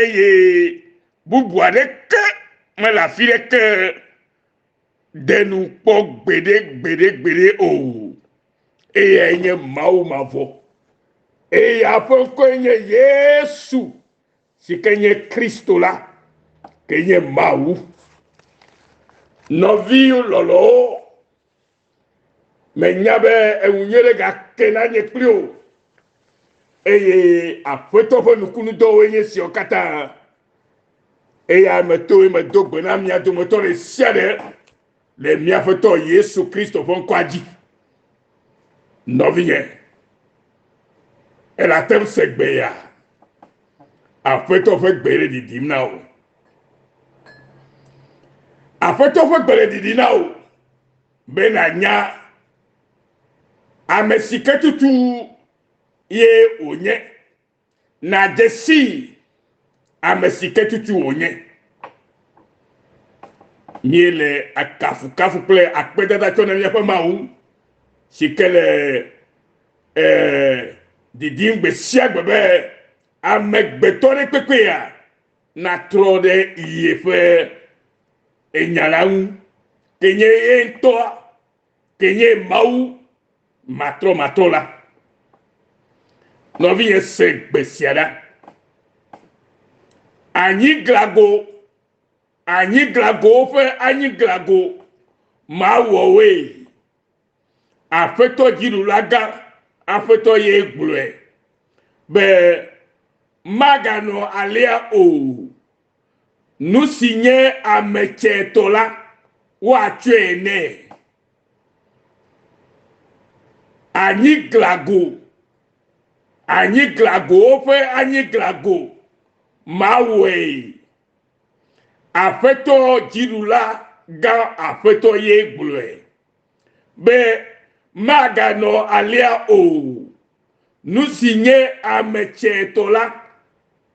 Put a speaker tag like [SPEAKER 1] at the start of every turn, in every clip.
[SPEAKER 1] eye bubu aɖeke mele afi ɖeke ɖe nu kpɔ gbeɖe gbeɖe gbeɖe o eye enye mawu mavɔ eye eƒe ŋkɔe nye yesu si ke nye kristo la ke nye mawu nɔviwo lɔlɔwo Menya be eŋu nye ɖe gake nanye kpli o. Eye Aƒetɔ ƒe nukunudɔwoe nye siawo katã. Eya metoe medo gbe na mia dometɔ ɖe sia ɖe le mía Aƒetɔ Yesu Kristo ƒe ŋkɔa dzi. Nɔvinye, elate ŋu se gbe ya? Aƒetɔ ƒe gbe le ɖiɖim na wò. Aƒetɔ ƒe gbe le ɖiɖim na wò. be nànya ame si ke tutu ye wònye, nàdze sii ame si ke tutu wònye. Míele akafukafu kple akpedada tsɔ na míaƒe Mawu si ke le eh, didim gbe sia gbe be amegbetɔ ɖe kpekpea natrɔ ɖe yeƒe enya la ŋu, ke nye ye ŋutɔa, ke nye Mawu matrɔmatrɔ la. Nɔvinye se gbe sia ɖa. Anyiglago, anyiglagowo ƒe anyiglago mawɔwoe. Aƒetɔ Dziɖulagã, Aƒetɔ ye gblɔe, be maganɔ alea o. Nu si nye ame tsɛ tɔ la, woatsɔe nɛ. Anyiglago, anyiglagowo ƒe anyiglago, mawɔe. Aƒetɔ Dziɖulagã, Aƒetɔ ye gblɔe. be maganɔ alea o. Nu si nye ame tsɛtɔ la,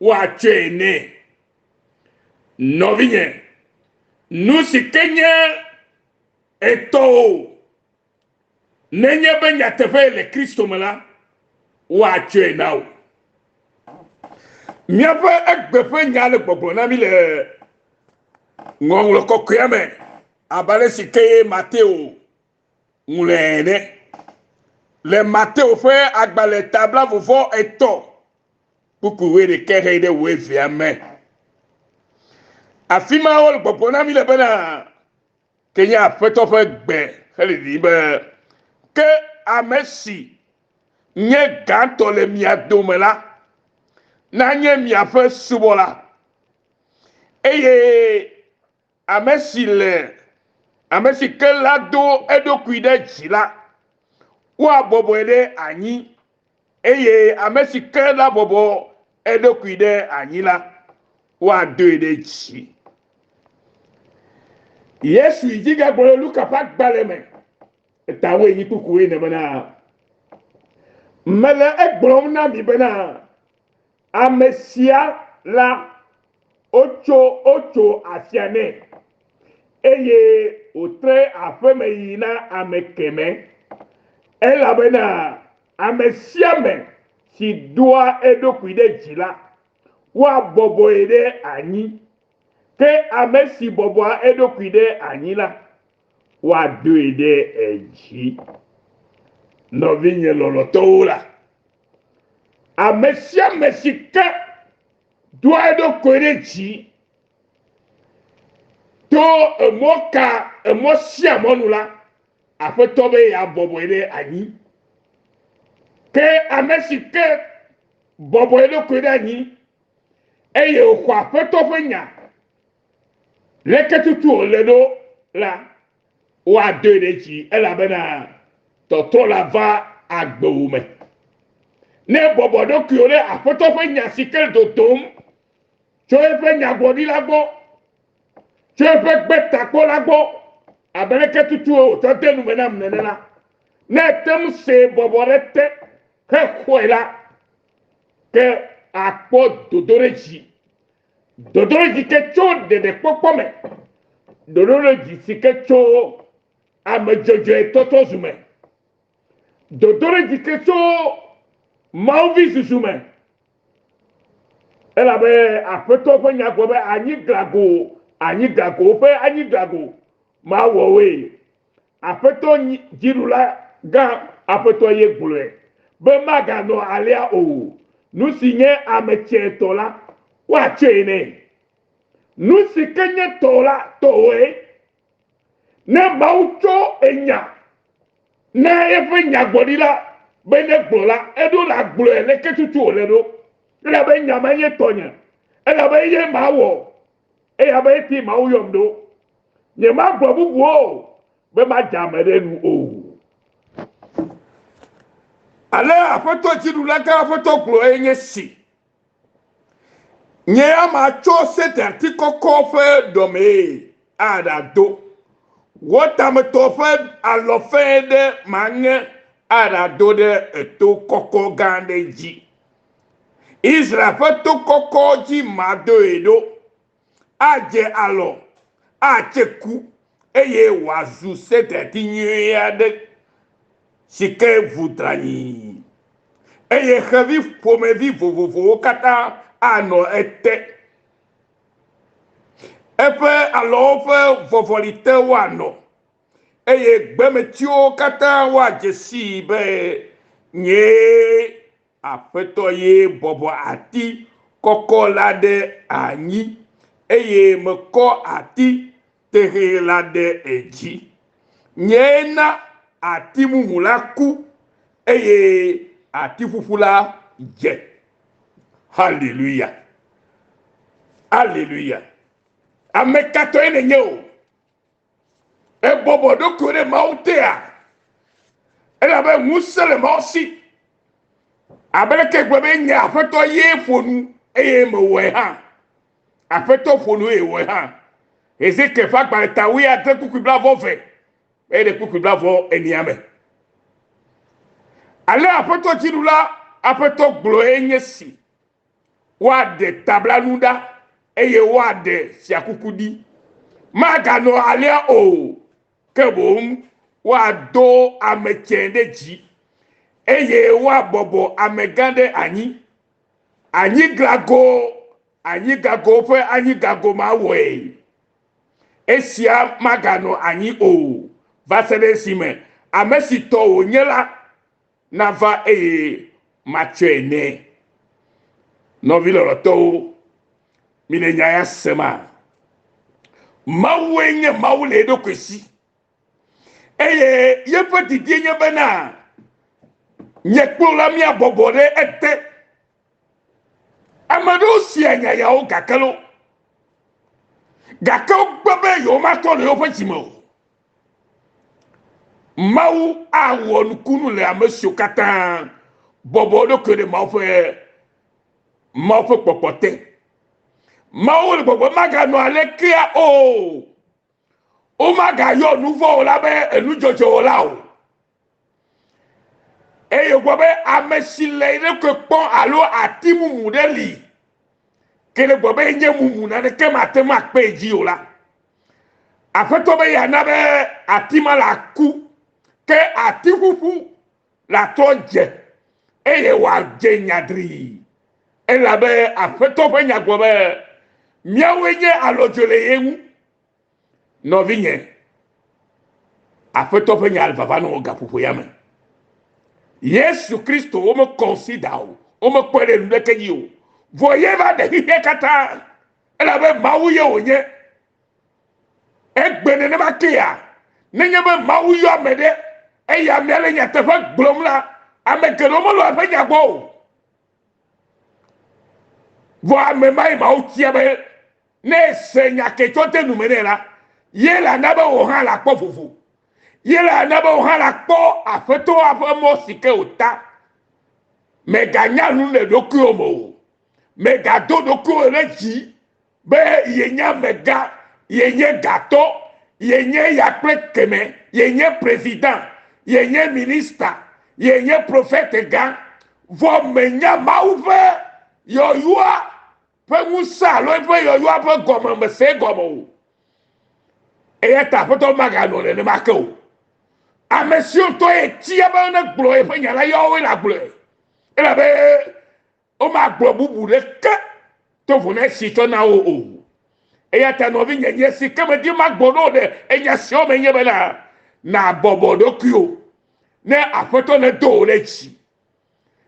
[SPEAKER 1] woatsɔe nɛ. Nɔvinye, nu si ke nye etɔwò, nenye be nyateƒee le Kristo me la, woatsɔe na wò. Míaƒe egbe ƒe nya le gbɔgblɔ na mí le Ŋɔŋlɔ Kɔkɔea me. Abe ale si ke Mateo ŋlɔe ene. Le Mateo ƒe agbalẽ ta blavovɔ etɔ̃ kpukpui wuiɖekɛ xɛ ɖe wuevea me. Afi ma wole gbɔgblɔ na mi le bena, ke nye aƒetɔ ƒe gbe hele ɖiɖim be, ke ame si nye gãtɔ le mia dome la, nanye miaƒe subɔla. Eye Ame si le, ame si ke la do eɖokui ɖe dzi la, woabɔbɔe ɖe anyi, eye ame si ke la bɔbɔ eɖokui ɖe anyi la, woadoe ɖe dzi. Yesu yi dzi gagblɔ le Luka ƒe agbalẽ me, etawoe nyi kpukpuwoe ne bena, Mele egblɔm na mi bena, Ame sia la, wotso wotso afia nɛ, eye wòtre aƒeme yi na ame kemɛ, elabena ame sia ame si doa eɖokui ɖe dzi la, woabɔbɔe ɖe anyi, ke ame si bɔbɔa eɖokui ɖe anyi la, Woadoe ɖe edzi. Nɔvinye lɔlɔ̃tɔwo la, ame sia ame si ke doa eɖokui ɖe dzi to emɔ ka emɔ sia mɔ nu la, Aƒetɔ be yeabɔbɔe ɖe anyi. Ke ame si ke bɔbɔ eɖokui ɖe anyi eye wòxɔ Aƒetɔ ƒe nya, Leke tutu wòle ɖo la, woadoe ɖe dzi elabena tɔtrɔ la va agbewò me. Ne èbɔbɔ ɖokuiwò ɖe Aƒetɔ ƒe nya si ke le dodom tso eƒe nyagblɔɖila gbɔ, tso eƒe Gbetakpɔla gbɔ, abe leke tutue wòtsɔ de nu me nam nene la, ne ète ŋu see bɔbɔ ɖe te hexɔe la, ke àkpɔ dodoɖedzi. Dodoɖedzi ke tso ɖeɖekpɔkpɔ me. Dodoɖedzi si ke tso ame dzɔdzɔe tɔtɔ zu me. Dodoɖedzi ke tso Mawu vi susu me. Elabe Aƒetɔ ƒe nya gblɔ be, Anyi glago, anyi glago, woƒe anyi glago, mawɔ woe. Aƒetɔ Dziɖula gã Aƒetɔ ye gblɔe, be maganɔ alea o, nu si nye ame tsɛ tɔ la, woatsɔe nɛ. Nu si ke nye tɔ la, tɔwòe. Ne Mawu tsɔ enya na eƒe nyagblɔɖila be negblɔ la, eɖo la gblɔe leke tutu wòle ɖo, elabe nya ma nye tɔnye, elabe eye mawɔ, eya be eti Mawu yɔm ɖo. Nyemagblɔ bubu o, be madze ame ɖe nu o. Ale Aƒetɔ Dziɖula gã Aƒetɔ gblɔe nye si, Nye ya matsɔ sedirti kɔkɔ ƒe ɖɔmee aɖado wɔtametɔ ƒe alɔ fẽ ɖe maŋe aɖado ɖe eto kɔkɔ gã aɖe dzi. Israel ƒe to kɔkɔ dzi madoe ɖo, adze alɔ, atse ku, eye wòazu sedati nyui aɖe si ke vu dranyi, eye xevi ƒomevi vovovowo katã anɔ ete. Eƒe alɔwo ƒe vɔvɔli te woanɔ, eye gbemetiwo katã woadze sii be nyee Aƒetɔ ye bɔbɔ ati kɔkɔ la ɖe anyi, eye mekɔ ati tẽxɛ la ɖe edzi. Nyee na ati mumu la ku, eye ati ƒuƒu la dze. Haleluya! Haleluya! Ame ka tɔe nènye o? Ebɔbɔ eɖokui ɖe Mawu tea? Elabe ŋusẽ le Mawu si. Abe leke egbe be nye aƒetɔ ye ƒo nu eye mewɔe hã. Aƒetɔ ƒo nu eye wɔe hã. Hezekiel ƒe agbalẽ ta wui ade kpukpui blavɔ ve eye ɖe kpukpui blavɔ enia me. Ale aƒetɔ dziɖula aƒetɔ gblɔe nye si. Woaɖe tablanu ɖa, eye woaɖe fiakuku ɖi. Maganɔ alea o, ke boŋ woado ame tsɛ ɖe dzi, eye woabɔbɔ amegã ɖe anyi. Anyiglago anyigago ƒe anyigago ma wɔe. Esia maganɔ anyi o va se ɖe esime ame si tɔ wònye la nava eye matsɔe nɛ. Nɔvi lɔlɔtɔwo, mile nya ya sema? Mawue nye Mawu le eɖokui si eye yeƒe didie nye bena nye kplola mia bɔbɔ ɖe ete. Ame aɖewo sia nya yawo gake lo, gake wogbe be yewomatɔ le yewoƒe dzi me o. Mawu awɔ nukunu le ame siwo katã bɔbɔ ɖokui ɖe Mawu ƒe Mawu ƒe kpɔkpɔ te. Mawu le gbɔgbɔ maganɔ alekea o. Womagayɔ nuvɔwɔla be enudzɔdzɔwɔla o. Eye wògblɔ be ame si le eɖokui kpɔ alo ati mumu ɖe li, ke ne gblɔ be enye mumu naneke mate ŋu akpee dzi o la, Aƒetɔ be yeana be ati ma la ku, ke ati ƒuƒu la trɔ dze, eye wòadze nyadrii. Elabe Aƒetɔ ƒe nya gblɔ be, Míawoe nye alɔdzɔe le ye ŋu, Nɔvinye, Aƒetɔ ƒe nya vava nɔ wò gaƒoƒo ya me. Yesu Kristo wome consider o, wome kpɔe ɖe nuɖeke dzi o. Vɔ ye va ɖe xexea katã, elabe Mawu ye wònye. Egbe nenema kea, nenye be Mawu yɔ ame ɖe, eya amea le nyateƒe gblɔm la, ame geɖewo melɔ̃a eƒe nya gbɔ o. Vɔ ame mae Mawu tia be Ne èse nya ke tso te nu me nɛ la, ye la na be wò hã la kpɔ vovo. Ye la na be wò hã la kpɔ Afetɔa ƒe mɔ si ke wòta. Mèganya nu le ɖokuiwò me o. Mègado ɖokuiwò ɖe dzi be yenye amegã, yenye gatɔ, yenye ya kple kemɛ, yenye prezida, yenye minista, yenye profɛtegã, vɔ mènya Mawu ƒe yɔyɔa ƒe ŋusẽ alo eƒe yɔyɔa ƒe gɔmemese gɔme o. Eya ta Aƒetɔ maganɔ nenema ke o. Ame siwo tɔ ye tia be negblɔ yeƒe nya la ya woe nagblɔe, elabe womagblɔ bubu ɖeke to ŋu na esi tsɔ na wo o. Eya ta nɔvinye, nye si ke medi magbɔ na wò ɖe enya siwo me nye bena, nàbɔbɔ ɖokuiwò ne Aƒetɔ nedo wò ɖe dzi.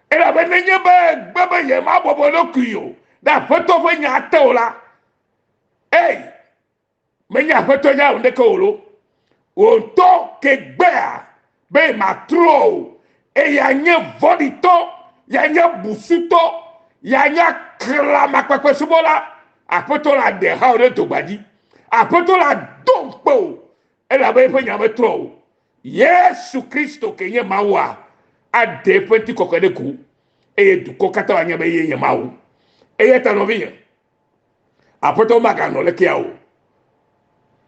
[SPEAKER 1] elabe nenye be gbe be yemabɔbɔ ɖokui o ɖe aƒetɔ ƒe nya te o la ei menye aƒetɔ nya o ɖeke o lo wò ŋutɔ ke gbea be matrɔ o eye anye vɔɖitɔ yanye busutɔ yanye kla makpakpe subɔla aƒetɔ la ɖe ha o ɖe dogbadzi aƒetɔ la do ŋkpe o elabe eƒe nya metrɔ o Yesu Kristo ke nye Mawua aɖe eƒe ŋutikɔkɔe ɖe go eye dukɔ katã wòanya be ye nye Mawu. Eya ta nɔvinye, Aƒetɔ maganɔ lekea o.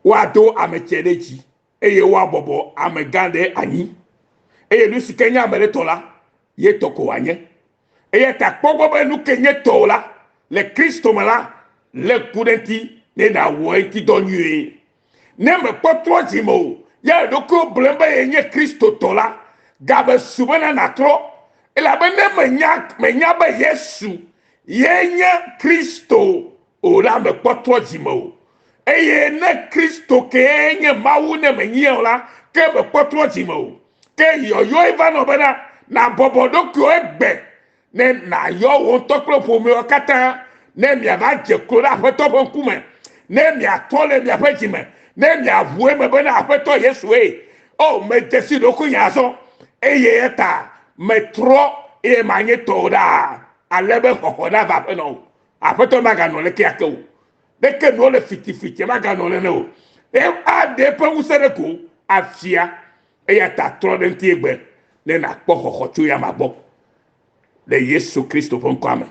[SPEAKER 1] Woado ame tsɛ ɖe dzi eye woabɔbɔ ame gã ɖe anyi eye nu si ke nye ame ɖe tɔ la, ye tɔ ko wòanye. Eya ta kpɔ gbɔ be nu ke nye tɔwò la, le Kristo me la, lé ŋku ɖe eŋuti ne nàwɔe ŋutidɔ nyuie. Ne mekpɔtɔ dzi me o, ya eɖokuiwo blem be yenye Kristotɔ la, game su bena nàtrɔ, elabene menya, menya be Yesu ye nye Kristo o la, mekpɔtɔ dzi me o. Eye ne Kristo kee nye Mawu ne menyia o la, ke mekpɔtɔ dzi me o. Ke yɔyɔe va nɔ bena nàbɔbɔ ɖokuiwò egbe ne nàyɔ wò ŋutɔ kple ƒomeawo katã, ne miava dze klo ɖe Aƒetɔ ƒe ŋkume, ne miatɔ le miaƒe dzi me, ne miaʋu eme bena, Aƒetɔ Yesue, O, medze si ɖokuinye azɔ, eye eya ta metrɔ, eye manye tɔwò ɖaa, ale be xɔxɔ nava aƒe na wò. Aƒetɔ maganɔ le keake o. Ɖeke nuwo le fitifitie maganɔ nene o. Eye aɖe eƒe ŋusẽ ɖe ko afia. Eya ta trɔ ɖe ŋuti egbe ne nàkpɔ xɔxɔ tso eya amea gbɔ. Le Yesu Kristo ƒe ŋkɔa me,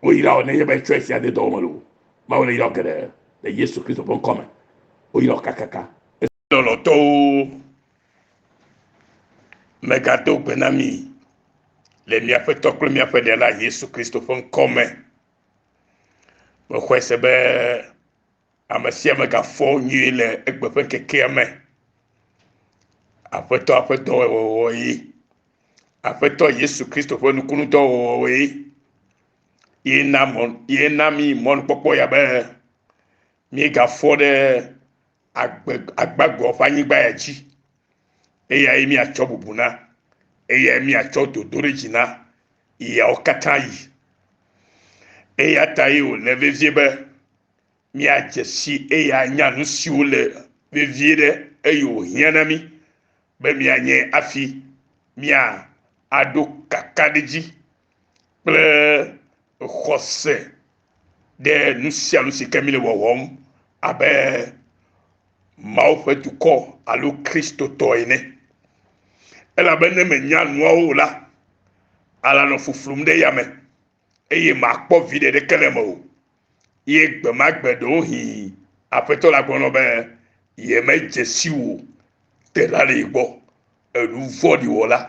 [SPEAKER 1] woyrawo nenye be etsɔe sia de dɔ wɔm le o. Mawu le yrawo geɖe le Yesu Kristo ƒe ŋkɔ me. Woyrawo kakaka. Lɔlɔ̃tɔwo, megado gbe na mi le mia Aƒetɔ kple miaƒe Ɖela Yesu Kristo ƒe ŋkɔ me. Mexɔe se be Ame sia ame gafɔ nyuie le egbe ƒe ŋkekea me. Aƒetɔ ƒe dɔwɔwɔwɔ ye. Aƒetɔ Yesu Kristo ƒe nukunudɔwɔwɔ ye. Ye na mɔ ye na mi mɔnukpɔkpɔ ya be míegafɔ ɖe agbe agbagɔ ƒe anyigba ya dzi. Eyae míatsɔ bubu na. Eyae míatsɔ dodo ɖe dzi na yawo katã yi. Eya tae wòle vevie be míadze si eye anya nu siwo le vevie ɖe eye wòhiã na mí be míanye afi mía aɖo kakaɖedzi kple xɔse ɖe nu sia nu si ke míle wɔwɔm abe Mawu ƒe dukɔ alo Kristotɔ ene. Elabe ne mènya nuawo o la, alanɔ fuflum ɖe yame eye màkpɔ viɖe ɖeke le eme o. Ye gbe ma gbe ɖewohĩ Aƒetɔ la gblɔ nɔ be yemedze si wò telalii gbɔ, èɖu vɔ̃ɖi wɔla.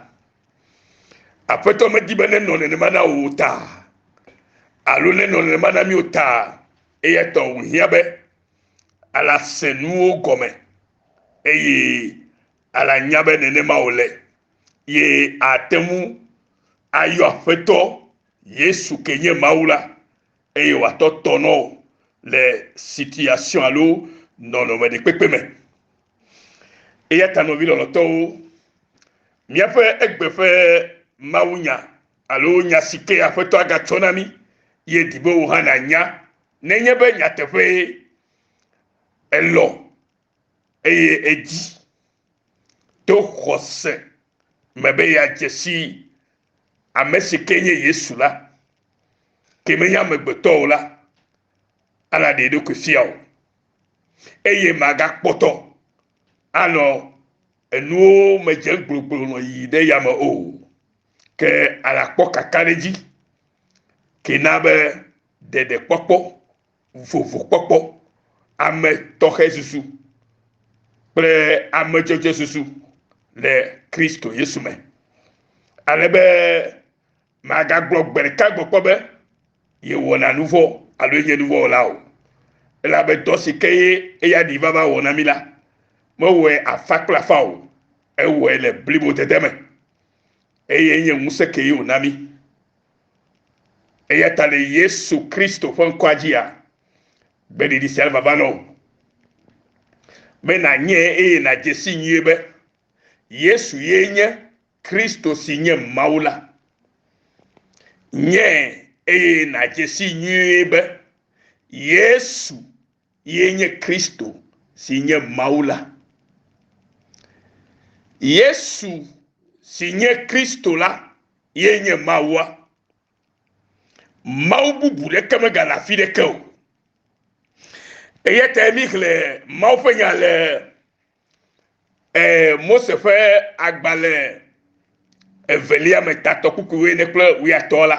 [SPEAKER 1] Aƒetɔ medi be nenɔ nenema na wò o ta, alo nenɔ nenema na mí o ta, eya ta wòhiã be ala se nuwo gɔme, eye ala nya be nenema wòle. ye ate ŋu ayɔ Aƒetɔ Yesu ke nye Mawu la eye wòatɔ tɔ nɔ wò le situation alo nɔnɔme ɖekpekpe me. Eya ta nɔvi lɔlɔtɔwo, míaƒe egbe ƒe mawunya alo nya si ke Aƒetɔ agatsɔ na mí ye di be wò hã nànya nenye be nyateƒee èlɔ̃ eye èdi. to xɔse me be yeadze si ame si ke nye Yesu la, ke menye amegbetɔ o la, ana ɖe ɖokui fia o, eye magakpɔtɔ anɔ enuwo me dze gbloglo nɔ yi ɖe yame o, ke anakpɔ kakaɖedzi, ke na be ɖeɖekpɔkpɔ vovokpɔkpɔ, ametɔxɛsusu kple amedzodzesusu le Kristo Yesu me, ale be magagblɔ gbe ɖeka gbe kpɔ be yewɔna nu vɔ̃ alo yenye nu vɔ̃ wɔla o. Elabe dɔ si ke ye eya ɖi vava wɔ na mi la, mewɔe afa kple afa o, ewɔe le blibodede me, eye enye ŋusẽ kee wòna mi. Eya ta le Yesu Kristo ƒe ŋkɔa dzia, gbeɖiɖi sia vava nɔ wò be nànyɛ eye nàdze si nyuie be Yesu ye nye Kristo si nye Mawu la. Nyɛ eye nàdze si nyuie be Yesu Ye nye Kristo si nye Mawu la. Yesu si nye Kristo la ye nye Mawua. Mawu bubu ɖeke megale afi ɖeke o. Eya ta mi xlẽ Mawu ƒe nya le eh, Mose ƒe agbalẽ evelia me tatɔ kukuwoe ne kple wuyatɔ la.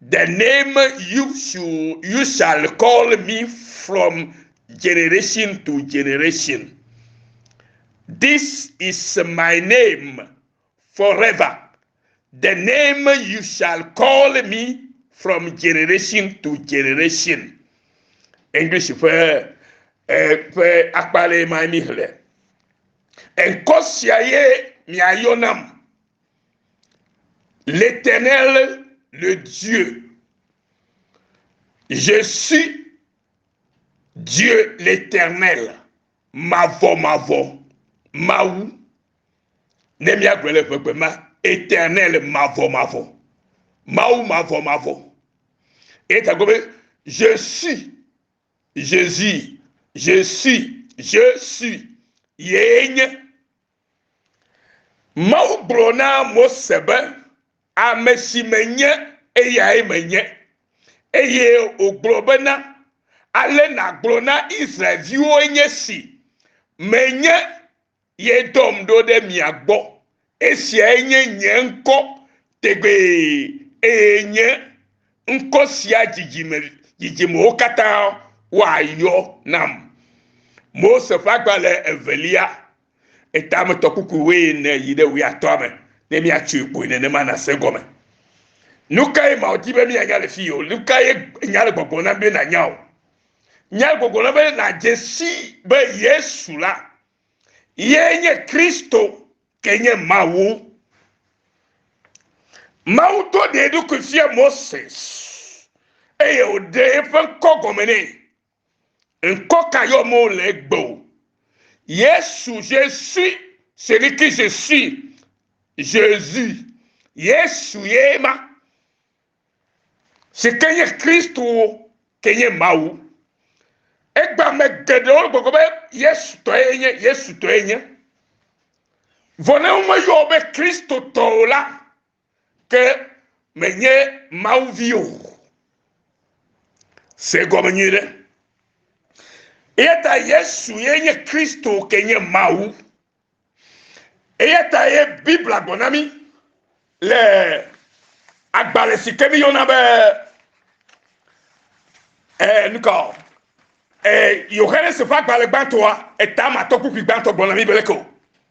[SPEAKER 1] The name you should you shall call me from generation to generation. This is my name forever. The name you shall call me from generation to generation. English ƒe eh, ƒe akpalɛ ma mi xlẽ. Enkɔ sia ye miayɔ nam. L'Éternel, le Dieu. Je suis Dieu l'Éternel. Mavɔ, mavɔ, mawu. Ne míagblɔ le ƒegbe ma, éternel, mavɔ, mavɔ. Mawu mavɔ, mavɔ. Eta gɔme, je suis Jésus. Je suis, je suis. Yee nye. Mawu gblɔ na Mose be, Ame si menye, eyae menye. Eye wògblɔ bena, Ale nàgblɔ na Israel-viwoe nye si, Menye ye dɔm ɖo ɖe mia gbɔ. Esiae nye nye ŋkɔ tegbee, eye nye ŋkɔ sia dzidzime dzidzimewo katã woayɔ nam. Mose ƒe agbalẽ evelia Etametɔ kuku wuiene yi ɖe wuiatɔa me ne míatsoe kpoe nenema nàse gɔme. Nu kae ma wòdi be míanya le fii o? Nu kae nya le gbɔgblɔm na mi be nànya o? Nya le gbɔgblɔm na be nàdze si be Yesu la ye nye Kristo ke nye Mawu. Mawu do ɖe eɖokui fia Moses eye wòɖe eƒe ŋkɔ gɔme nɛ. Ŋkɔ ka yɔm wole egbe o. Yesu, je suis celui qui je suis, Jesus, Yesu ye ma, si ke nye Kristo ke nye Mawu. Egbea ame geɖewo gbɔgblɔ be Yesu tɔ ye nye, Yesu tɔ ye nye. Vɔ ne womeyɔ wo be Kristo tɔ o la, Ke menye Mawu vi o. Se gɔme nyui ɖe. Eya ta Yesu ye nye Kristo ke nye Mawu. Eya ta ye Biblia gblɔ na mí le agbalẽ si ke míyɔna be eh, nukɔ eh, Yohanes ƒe agbalẽ gbãtɔa, etama tɔkpukpui gbãtɔ gblɔ na mí be leke o.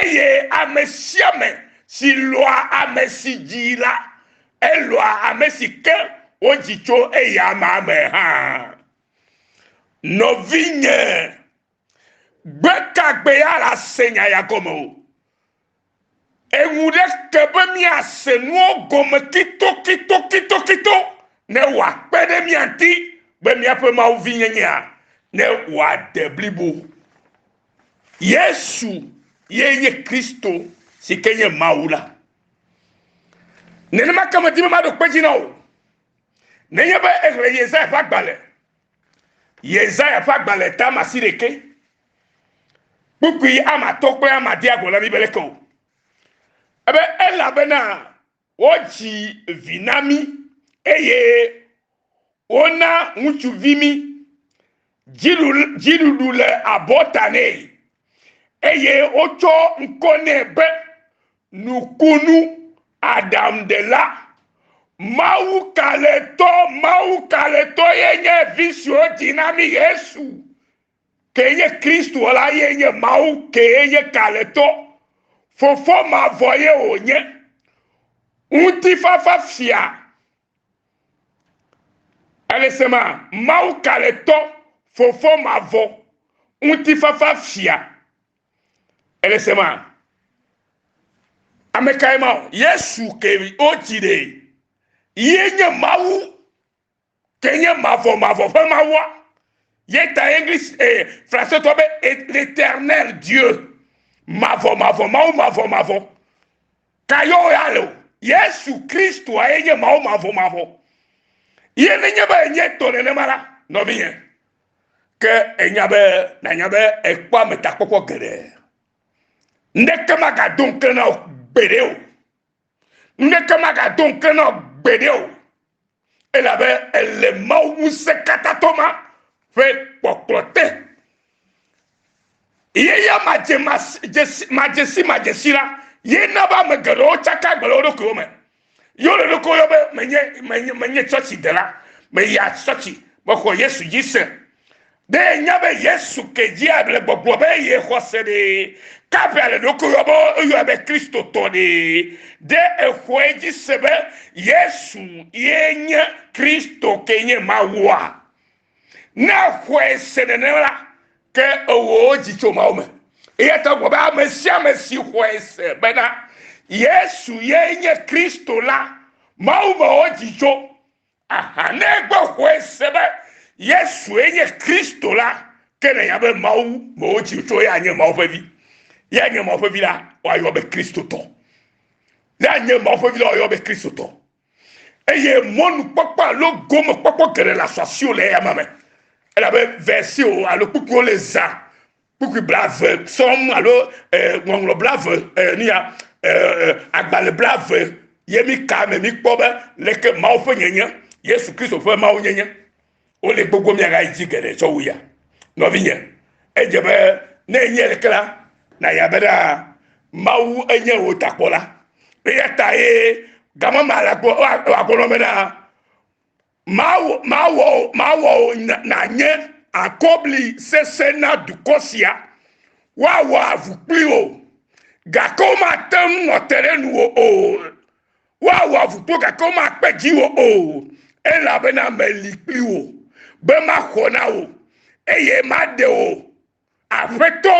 [SPEAKER 1] Eye ame sia ame si lɔ̃a ame si dzi la, elɔ̃a ame si ke wodzi tso eya amea me hã. Nɔvinye, gbe ka gbe ya la se nya ya gɔme o. Eŋu ɖe ke be míase nuwo gɔme kitokitokitokito ne wòakpe ɖe mía ŋuti be míaƒe Mawu vinyenyea ne wòade blibo. Yesu ye nye Kristo si ke nye Mawu la. Nenema ke medi be maɖo kpe dzi na wò. Nenye be exlẽ Yesaya ƒe agbalẽ, Yesaya ƒe agbalẽ ta ma si ɖeke, kpukpui ama atɔ kple ama dia gɔla mi be leke o. Ebe elabena Wodzi vi na mí, eye wona ŋutsuvi mí. Dziɖuɖu le abɔta nɛ, eye wotsɔ ŋkɔ nɛ be Nukunu Aɖaŋuɖela. Mawu Kalẽtɔ, Mawu Kalẽtɔ ye nye vi si wodzi na mí, Yesu. Kee nye Kristo la ye nye Mawu kee nye kalẽtɔ. Fofo mavɔ ye wònye. Ŋutifafa fia. Ele se ma? Mawu kalẽtɔ, Fofo mavɔ, ŋutifafa fia. Ele se ma? Ame kae ma? Yesu kee wodzi ɖee. Ye nye Mawu ke nye mavɔ mavɔ ƒe mawua ye ta english eh, francetɔ be l'éternel dieu mavɔ mavɔ mawu mavɔ mavɔ ka yewo ya le o yesu kristoa ye nye mawu mavɔ mavɔ ye nenye be enye tɔ nenema la nɔvinyɛ ke enya be nanya be ekpɔ ametakpɔkpɔ geɖe ŋɖeke magado ŋke na o gbeɖe o ŋɖeke magado ŋke na o gbeɖe o elabe èle Mawu Ŋusẽkatãtɔ ma ƒe kpɔkplɔ te. Ye ya madzesimadzesi la, ye na be ame geɖewo tsaka agbe le wo ɖokuiwo me. Ye wole ɖokuiwo yɔ be menye menye menye tsɔtsidela, meya tsɔtsi, mexɔ Yesu dzi se. Be nya be Yesu ke dzi able gbɔgblɔ be ye xɔse ɖe kaƒe ale ɖokui yɔ be eyɔe be Kristo tɔ ɖe. Ɖe exɔe dzi se be Yesu ye nye Kristo ke nye Mawua? Ne exɔe se nenema la, ke ewɔ dzi tso Mawu me. Eya ta wogblɔ be ame sia ame si xɔe se bena Yesu ye nye Kristo la, Mawu me wɔ dzi tso. Aha, ne egbe xɔe se be Yesue nye Kristo la, ke nènya be Mawu me wotsi tso ya nye Mawu ƒe vi. Ya nye Mawu ƒe vi la, woayɔ be Kristotɔ. Ya nye Mawu ƒe vi la, woayɔ be Kristotɔ. Eye mɔnukpɔkpɔ alo gomekpɔkpɔ geɖe le asɔasiwo le eyama me. Elabe versiwo alo kpukpuwo le zã kpukpui blave sɔm alo ŋɔŋlɔ blave nuya agbalẽ blave ye mi ka me mi kpɔ be leke mawu ƒe nyenye yesu kristo ƒe mawu nyenye wole gbogbo miaga yi dzi geɖe tsɔ wu ya nɔvinye edze be ne enye leke la na ya be ɖa mawu enye wò takpɔla eya ta ye gamama la gbɔ wa gbɔ nɔ be na Mawɔ wò nànye akɔbli sesẽ na dukɔ sia, woawɔ avu kpli wò, gake womate ŋu ate ɖe nuwò o. Woawɔ avu kpli wò, gake womakpe dziwò o, elabena meli kpli wò, be maxɔ na wò, eye maɖe wò Aƒetɔ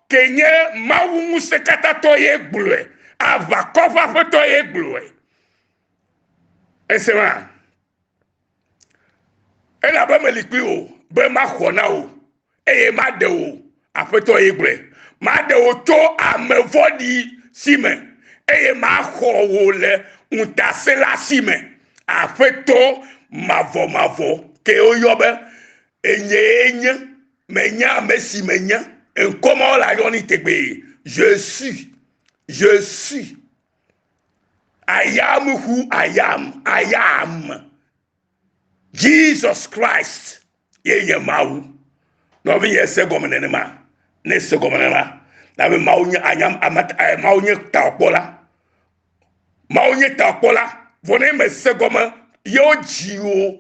[SPEAKER 1] ke nye Mawu ŋusẽkatãtɔ ye gblɔe. Aʋakɔ ƒe Aƒetɔ ye gblɔe. Ese ma? Elabe meli kpli wò be maxɔ na wò, eye maɖe wò, Aƒetɔ ye gblɔe. Maɖe wò tso ame vɔ̃ɖi si me, eye maxɔ wò le ŋutasẽla si me. Aƒetɔ mavɔmavɔ kee woyɔ be, Enyee nye. Menya ame si menye. Ŋkɔ ma wole ayɔ ni tegbee. Je suis. Je suis. I am who I am. I am. Jesus Christ ye nye Mawu. Nɔvinye se gɔme nenema. Ne se gɔme nenema. Na be Mawu nye anyam amat eh, Mawu nye taɔkpɔla. Mawu nye takpɔla, vɔ ne mèse gɔme yewo dzi o,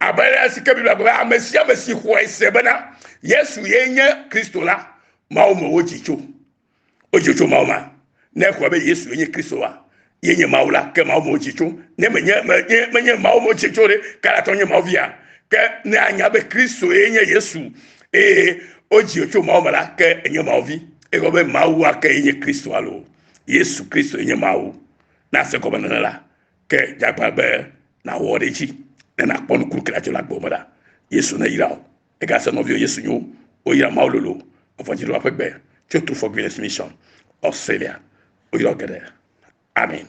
[SPEAKER 1] abe ale si ke Biblia gblɔ be ame sia ame si xɔe se bena Yesu ye nye Kristo la, Mawu me wodzi tso. Wodzi tso Mawu ma. Ne exɔe be Yesu nye Kristo wa, ye nye Mawu la, ke Mawu me wodzi tso. Ne menye menye menye Mawu me wodzi tso ɖe, kalatɔ nye Mawu via. Ke ne anya be Kristo ye nye Yesu eye wodzi tso Mawu me la, ke enye Mawu vi. Egɔme be Mawu ake ye nye Kristo alo Yesu Kristo nye Mawu. Na se gɔmenɔnɔ la, ke dzagbã be nàwɔ ɖe edzi ne nàkpɔ nukunu ke adzɔ le agbewo me la. Yesu neyra wò. Egase nɔviwò Yesu nyo. Woyra Mawu lolo evɔndziɖola ƒe gbe tso True for Greatness Mission, Australia. Woyra geɖe. Amen.